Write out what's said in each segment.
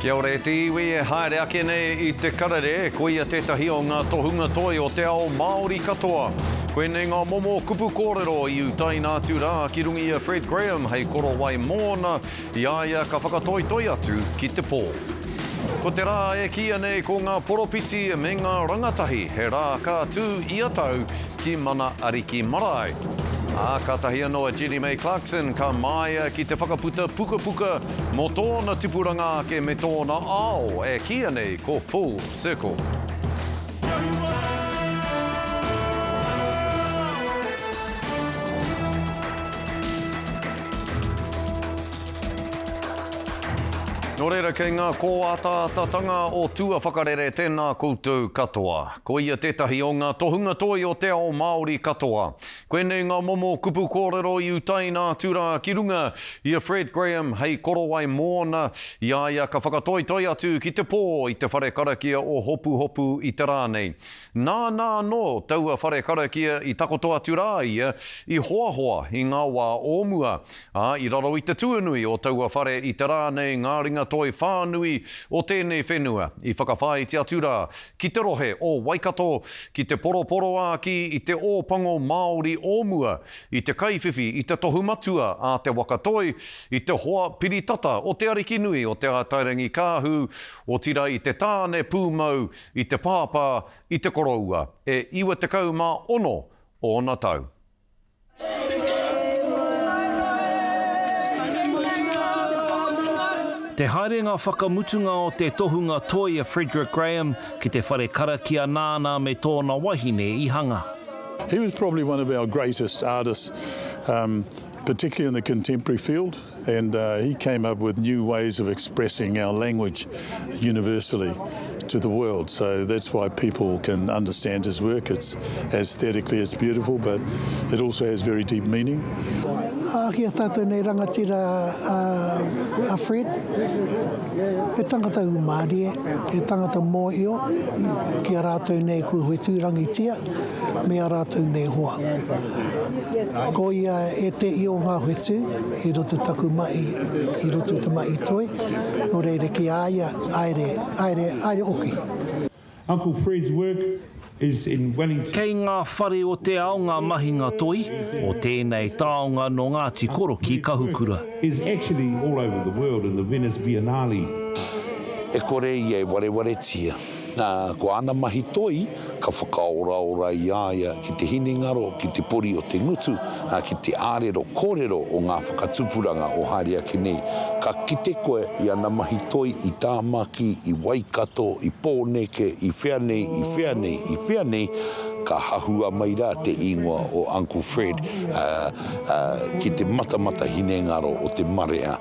Kia ora e te iwi e haere ake nei i te karere, koia tētahi o ngā tohunga toi o te ao Māori katoa. Koinei ngā momo kupu kōrero i utaina atu rā ki runga i a Fred Graham hei korowai mōna, i a ia ka whakatoitoi atu ki te pō. Ko te rā e kīia nei ko ngā poropiti me ngā rangatahi, he rā ka tū ia tau ki Mana Ariki Marae. Ā, kātahi anō a Jenny May Clarkson ka māia ki te whakaputa pukapuka Mō tōna tipuranga ake me tōna ao e kīia nei ko Full Circle. Nō reira, kei ngā kōataatatanga o tua whakarere tēnā koutou katoa. Koia tētahi o ngā tohunga toi o te ao Māori katoa. Koinei ngā momo kupu kōrero i utaina atu rā ki runga i a Fred Graham hei korowai mōna, i a ia ka whakatoitoi atu ki te pō i te whare karakia o Hopuhopu i te rā nei. Nāna anō taua whare karakia i takoto atu rā ia i hoahoa i ngā wā o mua, ā, i raro i te tuanui o taua whare i te rā nei ngā ringatoi whānui o tēnei whenua i whakawhāiti atu rā ki te rohe o Waikato, ki te poroporoākī i te Ōpango Māori o mua, i te kaiwhiwhi i te tohu matua a Te Waka Toi, i te hoa piri tata o te ariki nui o Te Atairangikaahu, otirā i te tāne pūmau, i te pāpā, i te koroua, e 96 ōna tau. Te haerenga whakamutunga o te tohunga toi a Frederick Graham ki te whare karakia nāna me tōna wahine i hanga. He was probably one of our greatest artists, particularly in the contemporary field. And uh, he came up with new ways of expressing our language universally to the world. So that's why people can understand his work. It's aesthetically it's beautiful, but it also has very deep meaning. Ah, kia tātou nei rangatira uh, a Fred, e tangata umārie, e tangata mōio, ki a rātou nei kua huetūrangitia, me a rātou nei hoa. Ko ia e te i o nga whetu, i roto taku mahi, i roto te mahi toi, no reira ki a ia, aere, aere, aere oki. Uncle Fred's work is in Wellington. Kei ngā whare o te ao ngā mahinga toi o tēnei taonga nō Ngāti Korokī Kahukura. Is actually all over the world in the Venice Biennale. E kore ia e warewaretia, ā, ko āna mahi toi ka whakaoraora i a ia ki te hinengaro, ki te pori o te ngutu, ā, ki te ārero kōrero o ngā whakatupuranga o haere ake nei. Ka kite koe i ana mahi toi i Tāmaki, i Waikato, i Pōneke, i whea nei, i whea nei, i whea nei, ka hahua mai rā te īngoa o Uncle Fred ki te matamata hinengaro o te marea.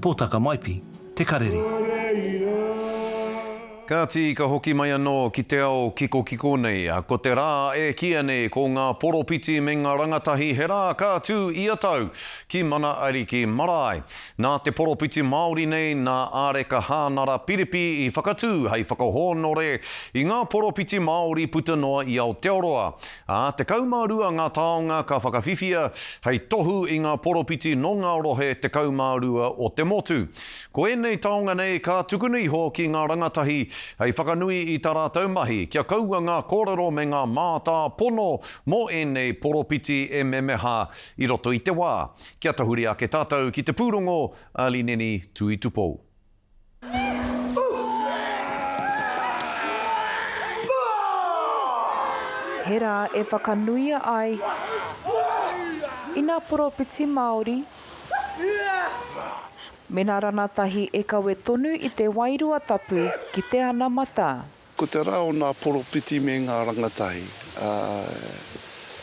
Potaka Maipi, Te Karere. Kāti ka hoki mai anō ki te ao kikokiko nei, ā, ko te rā e kīa nei ko ngā poropiti me ngā rangatahi he rā ka tū ia tau ki Mana Ariki Marae. Nā te poropiti Māori nei, nā Āreka Hānara Piripi i whakatū hei whakahōnore i ngā poropiti Māori puta noa i Aotearoa, Ā, tekau mā rua ngā taonga ka whakawhiwhia hei tohu i ngā poropiti nō ngā rohe tekau mā rua o te motu. Ko ēnei taonga nei ka tukuna iho ki ngā rangatahi hei whakanui i tā rātou mahi kia kaua ngā kōrero me ngā mātāpono mō ēnei poropiti e memeha i roto i te wā kia tahuri ake tātou ki te pūrongo a Lineni Tuitupou. He rā e whakanuia ai ina poropiti Māori mena ranatahi e kawe tonu i te wairua tapu ki te anamata. Ko te rā o ngā poropiti me ngā rangatahi, ā,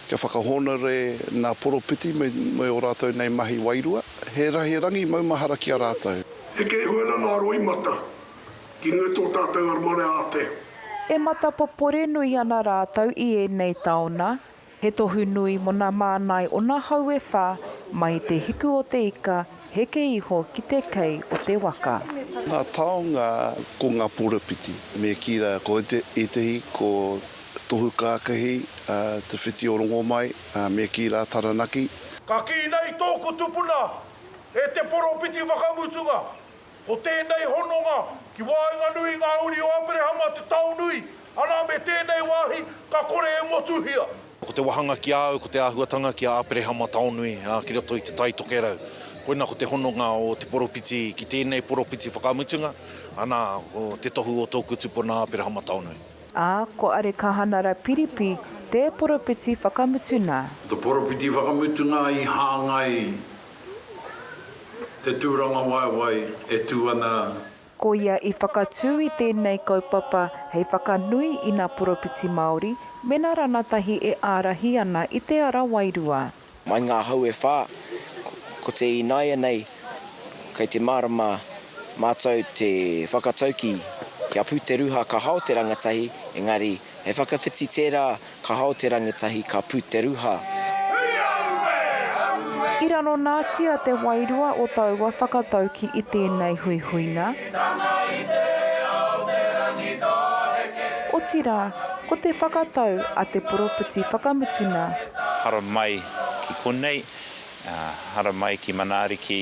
kia whakahōnore ngā poropiti me ō rātou nei mahi wairua, he rangi maumahara ki a rātou. Heke hua na nga roimata, ki nga to tatou armare a te. E matapopore nui ana rātou i ēnei taona, He tohu nui mo na mānai o na hau e wha, mai i te hiku o te ika, heke iho ki te kei o te waka. Nga taonga ko nga porowhiti. Me ki ra ko etehi ko Tohu Kakahi te whiti o Rongomai, me ki ra Taranaki. Ka ki nei tōku tupuna e te poropiti whakamutunga, Ko tēnei hononga ki waenganui i ngā uri o Aperehama te taonui, anā me tēnei wāhi ka kore e motuhia. Ko te wahanga ki a au ko te āhuatanga ki a Aperehama taonui ki roto i te Tai Tokerau. Koina ko te hononga o te poropiti ki tēnei poropiti whakamutunga, anā, ko te tohu o tōku tupuna Aperehama taonui. Ā, ko Arekahanara Piripi te poropiti whakamutuna. Ko te poropiti whakamutunga i hāngai Te tūrangawaewae e tū ana. Ko ia i whakatū i tēnei kaupapa hei whakanui i nā poropiti Māori me nā ranatahi e ārahi ana i te ara wairua. Mai ngā hau e whā, ko te ināianei kei te mārama mātou te whakatauki kia pū te ruha ka hao te rangatahi, engari. He whakawhiti tērā, ka hao te rangatahi, ka pū te ruha. I raronatia te wairua o taua whakatauki i tēnei huihuinga, otirā, ko te whakatau a te poropiti whakamutunga. Haramai ki konei, haramai ki Manaariki,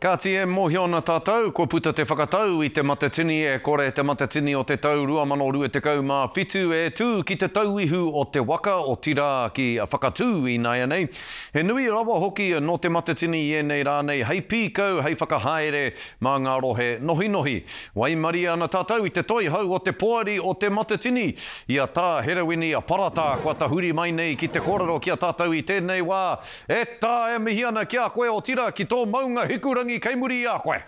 Kāti e mōhio ana tātou, kua puta te whakatau i te Matatini e Kore te Matatini o te tau 2027 e tū ki te tauihu o te waka, otirā ki Whakatū ināianei. He nui rawa hoki nō te Matatini i ēnei rā nei hei pīkau, hei whakahaere mā ngā rohe nohinohi. Waimarie ana tātou i te Toihau o te Poari o te Matatini, i a Tā Herewini Paratā kua tahuri mai nei ki te kōrero ki a tātou i tēnei wā, E tā, e mihi ana ki a koe, otira ki tō maunga Hikurangi kei muri i a koe.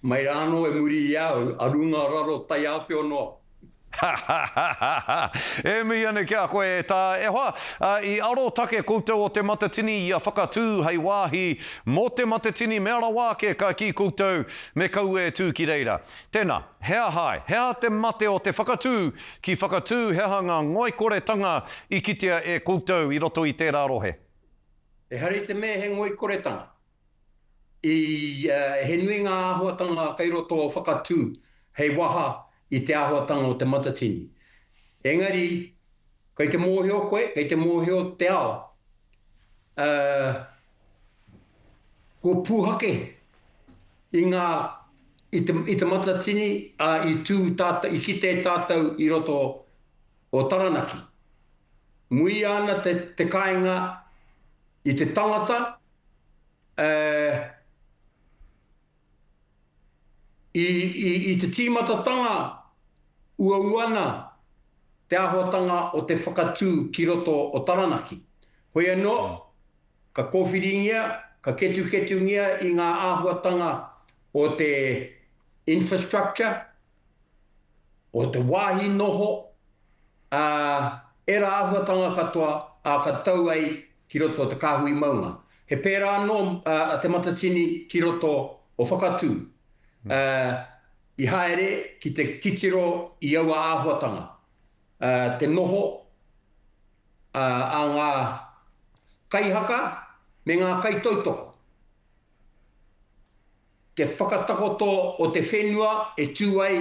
Mai rā anō e muri i a au, a runga raro taiāwhio noa. Hahahaha! E mihi ana ki a koe, e tā, e hoa, ā, i arotake koutou o Te Matatini i a Whakatū hei wāhi mō Te Matatini mea rawa ake ka kī koutou me kaua e tū ki reira. Tēnā. He aha ai? He aha te mate o te whakatū ki whakatū? He aha ngā ngoikoretanga i kitea e koutou i roto i tērā rohe? Ehara i te mea he ngoikoretanga. I ia, he nui ngā āhuatanga kei roto o whakatū hei waha i te āhuatanga o Te Matatini. Engari, kei te mōhio koe, kei te mōhio te ao, ā, Ko Pūhake, i ngā, i te, i te Matatini, ā, i tū tātou, i kite tātou i roto o Taranaki. Muia ana te, te kāinga i te tangata, ē, I te tīmatatanga, uau ana te āhuatanga o te whakatū ki roto o Taranaki. Hoi anō, ka kōwhiringia, ka ketuketungia i ngā āhuatanga o te infrastructure, o te wāhi noho, ā, ērā āhuatanga katoa ā ka tau ai ki roto o te kāhui maunga. He pērā anō a Te Matatini ki roto o Whakatū, ā, i haere ki te titiro i aua āhuatanga, ā, te noho, ā, a ngā kaihaka me ngā kaitautoko. Te whakatakoto o te whenua e tū ai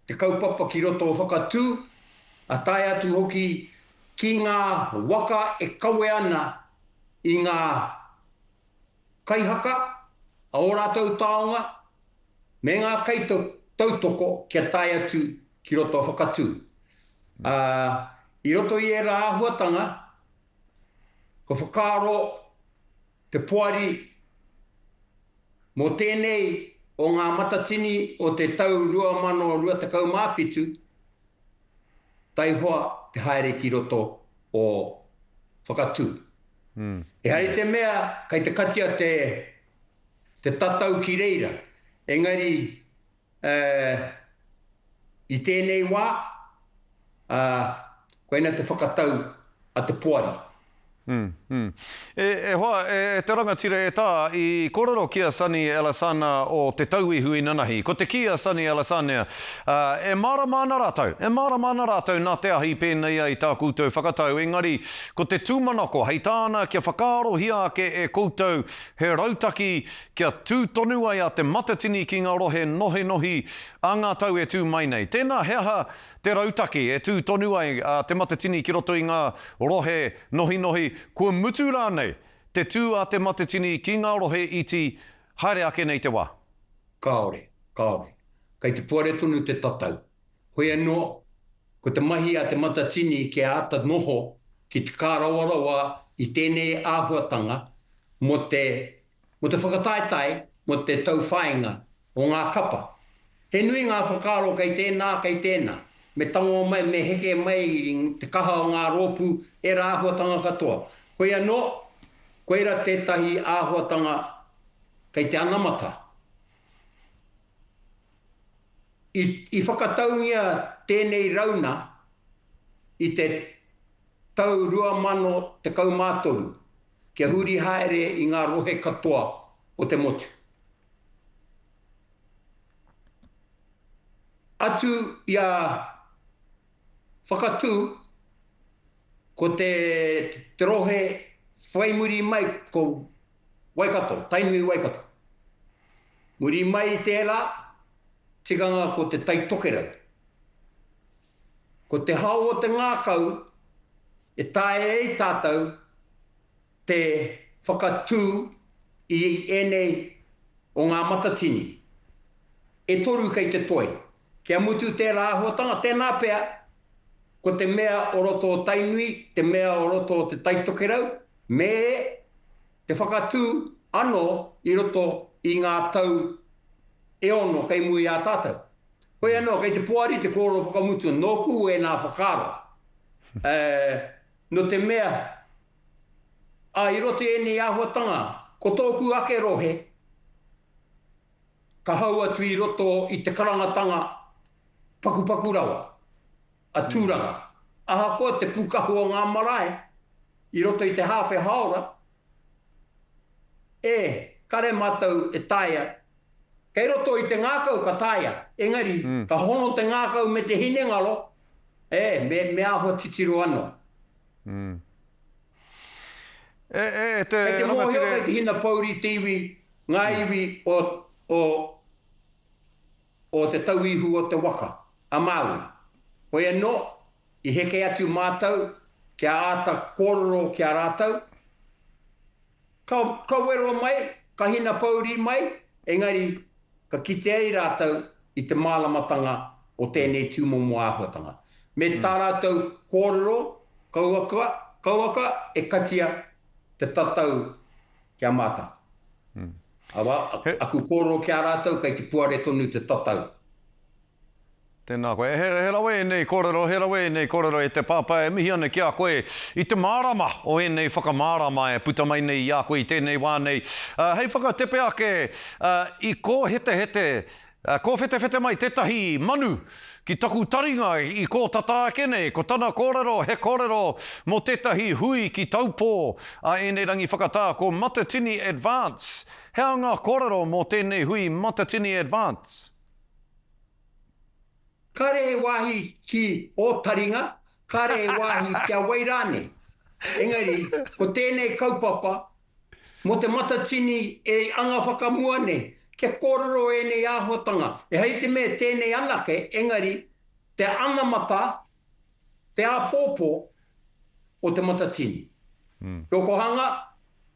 te kaupapa ki roto whakatū, a tae atu hoki ki ngā waka e kawe ana i ngā kaihaka a ō rātou taonga me ngā kaitautoko kia tae atu ki roto whakatū. Ā, i roto i ērā āhuatanga, kua whakaaro Te Poari, Mō tēnei o ngā Matatini o te tau 2027, taihoa te haere ki roto o Whakatū. Ehara i te mea kei te katia te tatau ki reira, engari Ā, i tēnei wā, ā, koinā te whakatau a te poari. Hm, hm. E, e hoa, e, e te rangatira e tā, i kōrero ki a Sani Alesana o Te Tauihu inanahi. Ko te kī a Sani Alesanea, ā, e mārama ana rātou, e mārama ana rātou nā te ahi pēnei ai tā koutou whakatau, engari ko te tūmanako hei tāna kia whakaarohia ake e koutou he rautaki kia tū tonu ai a Te Matatini ki ngā rohe nohinohi a ngā tau e tū mai nei. Tēnā, he aha te rautaki e tū tonu ai a Te Matatini ki roto i ngā rohe nohinohi, kua mutu rānei te tū a Te Matatini ki ngā rohe iti haere ake nei te wā? Kāore, kāore. Kei te puare tonu te tatau. Hoi anō, ko te mahi a Te Matatini kia āta noho ki te kārawarawa i tēnei āhuatanga mō te mō te whakataetae mō te tauwhāinga o ngā kapa. He nui ngā whakaaro kei tēnā, kei tēnā, me tango mai, me heke mai i te kaha o ngā rōpū, ērā āhuatanga katoa. Hoi anō, koirā tētahi āhuatanga kei te anamata. I, i whakataungia tēnei rauna i te tau 2013, kia huri haere i ngā rohe katoa o te motu. Atu i a Whakatū, ko te rohe whai muri mai ko Waikato, Tainui Waikato. Muri mai i tērā, tikanga ko te Taitokerau. Ko te hao o te ngākau e taea ai tātou te whakatū i ēnei o ngā matatini e toru kei te toe. Kia mutu tērā āhuatanga, tēnā pea, ko te mea o roto o Tainui, te mea o roto o Te Taitokerau, me te whakatū anō i roto i ngā tau e ono kei mua i a tātou. Hoi anō, kei te poari te kōrero whakamutunga, nōku ēnā whakaaro. Nō te mea, i roto i ēnei āhuatanga, ko tōku ake rohe, ka hau atu i roto i te karangatanga pakupaku rawa. a Tūranga. Ahakoa te pūkahu o ngā marae i roto i te hāwhe hāora, e kare mātou e taea, kei roto i te ngākau ka taea, engari ka hono te ngākau me te hinengaro, ē, me āhua titiro anō. Kei te mōhio, kei te hina pouri te iwi, ngā iwi o o te tauihu o te waka, a Māui. Hoi anō, i heke atu mātou kia āta kōrero ki a rātou, ka, ka wero mai, ka hinapōuri mai, engari, ka kite ai rātou i te māramatanga o tēnei tūmomo āhuatanga. Me tā rātou kōrero, kauaka, kauaka e katia te tatau Kia mata. Awa, aku kororo ki a ratou kei te puare tonu te tatau. Tēnā koe. He, he rawe ēnei kōrero, he rawe ēnei kōrero e te Pāpā. E mihi ana ki a koe i te mārama o ēnei whakamārama e puta mai nei i a koe i tēnei wā nei. Hei whakatepe ake, i kō hetehete Kōwhetewhete mai tētahi manu ki taku taringa i kō tata ake nei, ko tana kōrero he kōrero mō tētahi hui ki Taupō a ēnei rangi whakatā ko Matatini Advance. He aha ngā kōrero mō tēnei hui Matatini Advance? Kāre he wāhi ki ō taringa, kāre he wāhi kia wai rānei. Engari, ko tēnei kaupapa Mō te Matatini e anga whakamua nei, kia kōrero ēnei āhuatanga, ehara i te mea tēnei anake, engari, te anamata, te āpōpō o te Matatini. Rokohanga,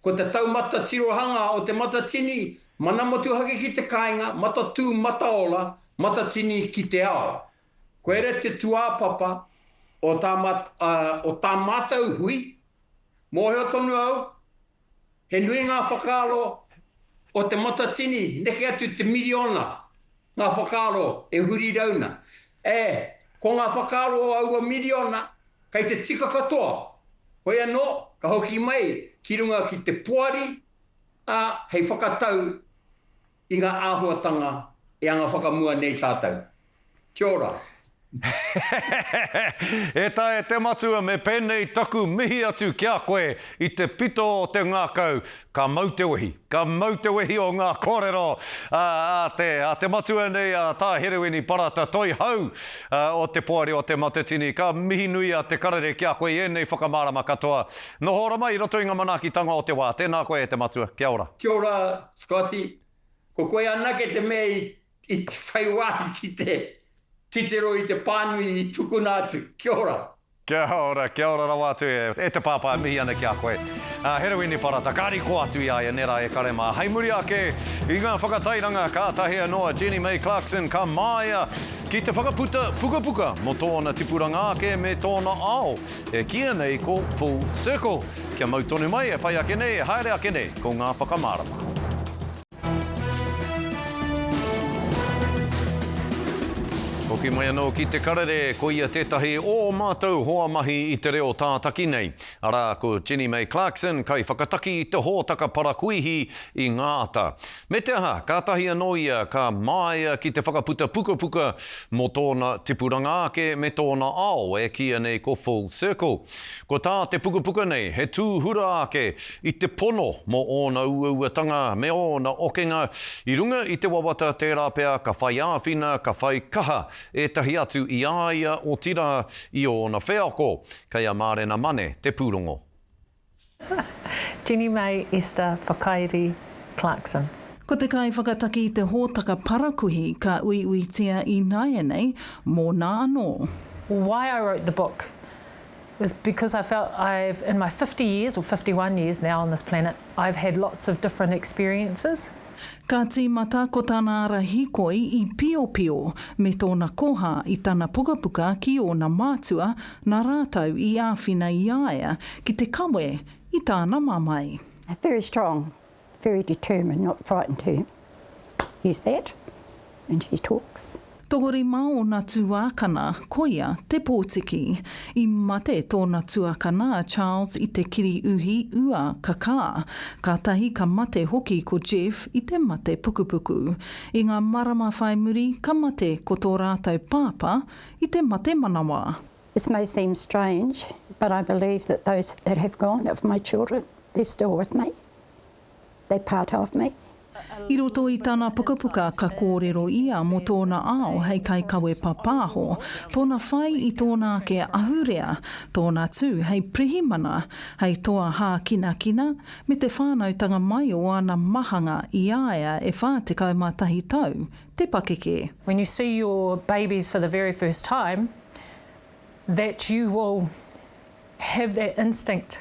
ko te taumata tirohangā o te Matatini, mana motuhake ki te kāinga, matatū, mataora, matatini ki te ao. Koira te tūāpapa o tā mātou hui, Mōhio tonu au, he nui ngā whakaaro o Te Matatini, neke atu te miriona ngā whakaaro e huri rauna. Ē, ko ngā whakaaro o aua miriona, kei te tika katoa, hoi anō, ka hoki mai ki runga ki te poari, ā, hei whakatau I ngā āhuatanga e anga whakamua nei tātou. Kia ora. E Tae te Matua me penei taku mihi atu ki a koe i te pito o te ngakau ka mau te wehi ka mau te wehi o nga korero a te a te matua nei a Tahereweni Parata Toihau o te Poari o te Matatini ka mihi nui a te karere ki a koe i enei whakamarama katoa noho ora mai i roto i nga manakitanga o te wa. Tena koe e te Matua. Kia ora. Kia ora Scotty, Ko koe anake te mea i whai wāhi ki te titiro i te pānui i tukuna atu. Kia ora. Kia ora, kia ora rawa atu e te Pāpā, e mihi ana ki a koe. A Herewini Parata, ka riko atu i a ia, nera e kare mā. Hei muri ake i ngā whakatairanga, kātahi anō a Jenny May Clarkson ka māia ki te whakaputa pukapuka mō tōna tipuranga ake me tōna ao. E kīia nei ko full circle. Kia mau tonu mai, e whai ake nei, e haere ake nei, ko ngā whakamārama. Hoki mai anō ki Te Karere, koia tētahi o ō mātou hoa mahi i te reo tātaki nei, arā, ko Jenny May Clarkson, kaiwhakataki i te hōtaka parakuihi i ngā ata. Me te aha, kātahi anō ia ka māia ki te whakaputa pukapuka mō tōna tipuranga ake me tōna ao e kīia nei ko Full Circle. Ko tā te pukapuka nei he tūhura ake i te pono mō ōna uauatanga me ōna okenga i runga i te wawata tērā pea ka whai āwhina, ka whai kaha ētahi atu i a ia otirā i ōna wheako. Kei a Mārena Mane te pūrongo. Jenny May Esther Whakairi Clarkson. Ko te kaiwhakataki i te hōtaka parakuihi ka uiuitia ināianei mōna anō. Why I wrote the book was because I felt I've in my fifty years or fifty one years now on this planet I've had lots of different experiences, Ka tīmata ko tana ara hīkoi i Piopio me tōna koha i tana pukapuka ki ōna mātua, nā rātou i āwhina i a ia ki te kawe i tāna mamae. Very strong, very determined, not frightened to use that when she talks. Tokorima ōna tuākana, koia te pōtiki. I mate tōna tuakana a Charles i te kiri uhi ua kakā. Kātahi ka mate hoki ko Jeff i te mate pukupuku. I ngā marama whai muri ka mate ko tō rātou pāpā i te mate manawa. This may seem strange, but I believe that those that have gone of my children, they're still with me. They part of me. I roto i tana pukapuka ka kōrero ia mō tōna ao hei kaikawe papāho, tōna whai i tōna ake ahurea, tōna tū hei pirihimana, hei toa hākinakina, me te whānautanga mai o ana mahanga i a ia e 41 tau te pakeke. When you see your babies for the very first time, that you will have that instinct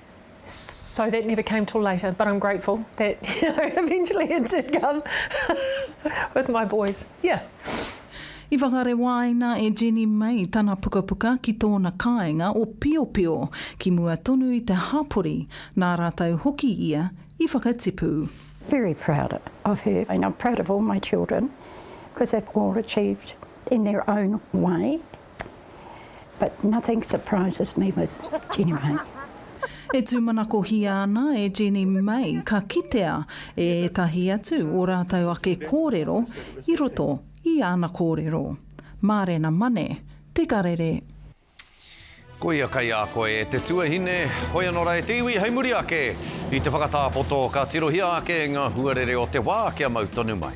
So that never came till later but I'm grateful that you know eventually it did come with my boys, yeah. I whakarewaina e Jenny May tana pukapuka ki tōna kāinga o Piopio ki mua tonu i te hapori, nā rātou hoki ia i whakatipu. Very proud of her and I'm proud of all my children because they've all achieved in their own way But nothing surprises me with Jeannie Mai. E tūmanakohia ana e Jeannie Mai ka kitea e ētahi atu ō rātou ake kōrero i roto i ana kōrero. Mārena Mane, Te Karere. Koia kai a koe e te tuahine, hoi ano ra e te iwi hei muri ake i te whakatapoto ka tirohia ake nga huarere o te wa kia mau tonu mai.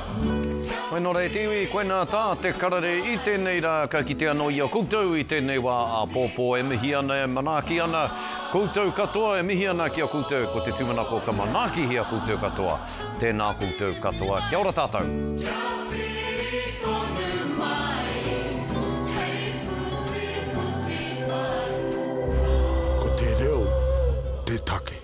Koinā rā e te iwi, koinā tā te karere i tēnei rā ka kite anō i a koutou i tēnei wā āpōpō e mihi ana, e manaaki ana koutou katoa, e mihi ana ki a koutou ko te tūmanako ka manaakihia koutou katoa, tēnā koutou katoa, kia ora tātou. Ko te reo te take.